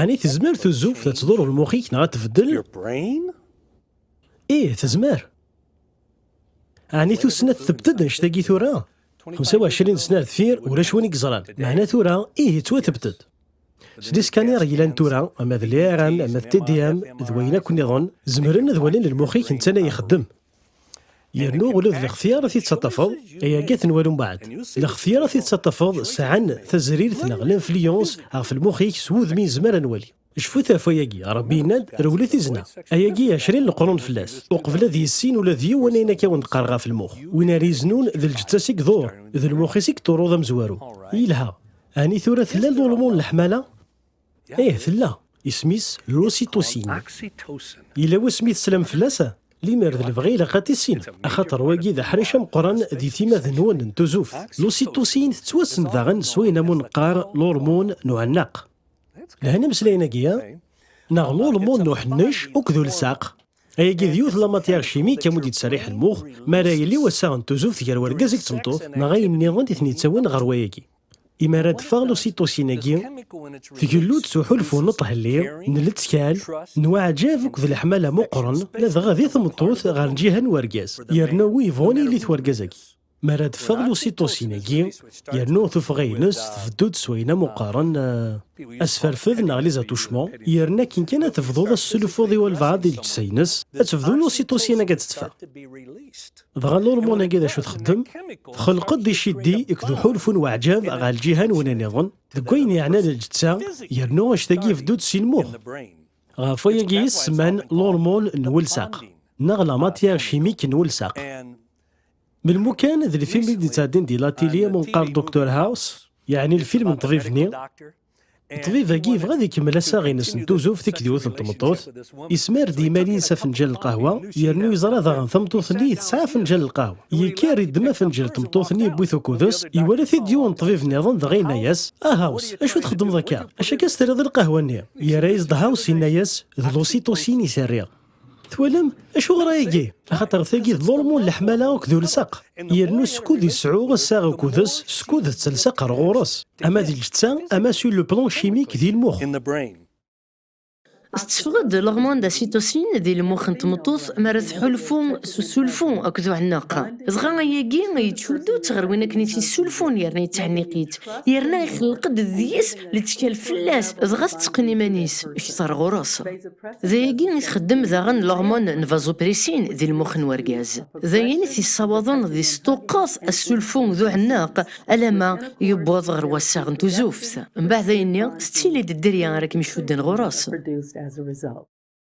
Ɛni tezmer tuzuft ad tḍurr lmux-ik neɣ ad tbeddel? Ih, tezmer. Ɛni tussna tebded anect-agi tura? 25 sna ar deffir ulac win i yeẓran, meɛna tura ih yettwatebded. S liskaniṛ yellan tura, ama d l-IRM, ama d TDM, d wayen akk nniḍen, zemren ad walin lmux-ik netta la ixeddem. yernu ula d lextyar i t-id-teṭṭafeḍ, ayagi ad t-nwali mbaɛd. Lextyar i t-id-teṭṭafeḍ sɛan tazrirt neɣ l'influence ɣef lmux-ik s wudem i nezmer ad nwali. Cfut ɣef wayagi, Rebbi yenna-d, Rewlet i zna. Ayagi ɛecrin leqrun fell-as, uqbel ad yissin ula d yiwen ayen akka wen-d-qqareɣ ɣef lmux. Win ara iznun, d lǧetta-s i iḍur, d lmux-is i iḍurru d amezwaru. Yelha. Ɛni tura tella lulmu n leḥmala? Ih, tella. Isem-is L'Ocytocine. Yella wasmi teslam fell-as? Limer d lebɣi ilaq ad tissinem, axaṭer wagi d aḥric ameqqran di timmad-nwen n tuzuft. L'Ocytocine tettwassen daɣen s wayen am uneqqar l'hormon n uɛennaq. Lhan imeslayen-agi, neɣ l'hormon n uḥennec akked ulsaq. Ayagi d yiwet la matière chimique amu d-yettserriḥ lmux, mi ara yili wassaɣ n tuzuft gar urgaz akked tmeṭṭut, neɣ ayen-nniḍen i ten-yettawin ɣer wayagi. I mi ara d-teffeɣ lusiṭusin-agi, tgellu-d s uḥulfu n uṭhelli, n lettkal, n uɛǧab akked leḥmala meqqren, ladɣa di tmeṭṭut ɣer lǧiha n urgaz, yernu wi yebɣun yili-t urgaz-agi. Mi ara d-teffeɣ lusiṭusin-agi, yernu tuffɣa-ines tbeddu-d s wayen am uqqaren asferfed neɣ les attouchements, yerna akken kan ad tebduḍ ad teslufuḍ i walbeɛḍ di lǧetta-ines, ad tebdu lusiṭusin-agi ad d-teffeɣ. Dɣa lurmun-agi d acu txeddem? Txelq-d icidi ikdu ḥulfun waɛǧab ɣer lǧihan wena niḍen deg wayen yeɛnan lǧetta yernu actagi yebdu-d si lmux. Ɣef wayagi i s-semman lurmun n welsaq neɣ la matière chimique n welsaq. Melmu kan d lfilm i d-yettɛeddin di latili am unqar Doctor House, yeɛni lfilm n ṭbib-nni, Ṭṭbib-agi yebɣa ad ikemmel assaɣ-ines n tuzzuft i k-d-iwet n tmeṭṭut, yesmar-d imal-ines afenǧal n lqahwa, yernu yeẓra daɣen tameṭṭut-nni tesɛa afenǧal n lqahwa. Yekker, iddem afenǧal n tmeṭṭut-nni yewwi-t ukudes, iwala-t-id yiwen n ṭṭbib niḍen dɣa yenna-yas, A House, acu txeddmeḍ akka? Acu akka s-terriḍ i lqahwa-nni? Yerra-yas-d House, yenna-yas, D lusitusin i s-rriɣ. Twalam acuɣer ayagi? Axaṭer tagi d ḍulmu n leḥmala akked ulsaq, yernu skud yesɛu assaɣ akkudes, skud d talsaq ar ɣur-s, ama di lǧetta, ama sur le plan chimique di lmux. Tetteffeɣ-d l'hormone de la cytocine di lmux n tmeṭṭut mi ara tḥulfu s usulfu akked uɛenneq. Dɣa ayagi yettcuddu-tt ɣer win akken i t-yessulfun yerna yettɛenniq-itt, yerna ixelleq-d deg-s Lettkal fell-as, dɣa tetteqqen iman-is, kečč ɣer ɣur-s. D ayagi i txeddem daɣen lormone n vasopressin di lmux n urgaz. D ayen i t-yessawaḍen ad yesṭuqqet assulfu d uɛenneq alamma yewweḍ ɣer wassaɣ n tuzuft. Mbeɛd ayenni, tettili-d dderya ara kem-icudden ɣur-s.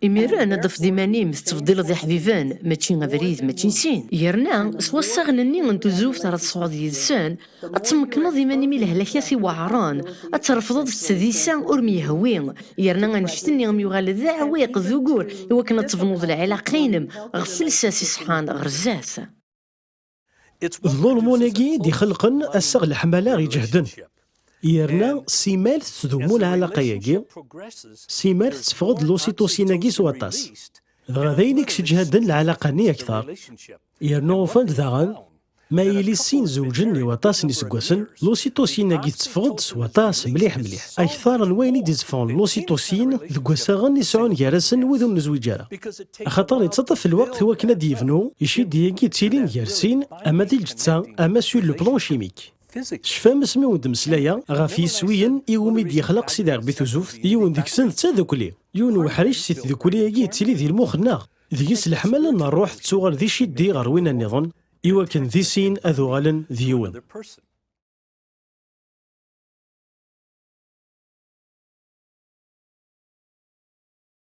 Imir n ad fed iman-im tettbeddileḍ iḥbiben, mačči abrid, mačči sin. Yerna, s wassaɣen-nni n tuzuft ara tesɛuḍ yid-sen, ad tmekkneḍ iman-im i lehlak-as iweɛren, ad trefdeḍ s tdisa ur m-yehwi, yerna annect-nni ad m-yuɣal d aɛewwiq, d ugur, i wakken ad tebnuḍ lɛilaqe-inem ɣef lsas iṣeḥḥan ɣer zdat. D lulmun-agi i d-ixelqen assaɣ n leḥmala iǧehden. Yerna simmal tettdumu lɛalaqa-agi, simmal tetteffeɣ-d lusitusin-agi s waṭas, dɣa d ayen i yesseǧhaden lɛalaqa-nni akteṛ, yerna ufan-d daɣen ma yili sin zewǧen i waṭas n yiseggasen, lusitusin-agi tetteffeɣ-d s waṭas mliḥ mliḥ, akteṛ n wayen i d-iteffɣen lusitusin deg wassaɣen i sɛun gar-asen wid ur nezwiǧ ara. Axaṭer ittaṭṭaf lweqt i wakken ad d-yebnu iciddi-agi ttilin gar sin, ama di lǧetta ama sur le plan chimique. Tecfam asmi wen d-meslayeɣ ɣef yiswiyen i wumi d-yexlaq Sidi Rebbi Tuzuft, yiwen deg-sen d tadukli. Yiwen uḥric si tdukli-agi yettili di lmux-nneɣ, deg-s leḥmala n rruḥ tettuɣal d iciddi ɣer winna nniḍen, i wakken di sin ad uɣalen d yiwen.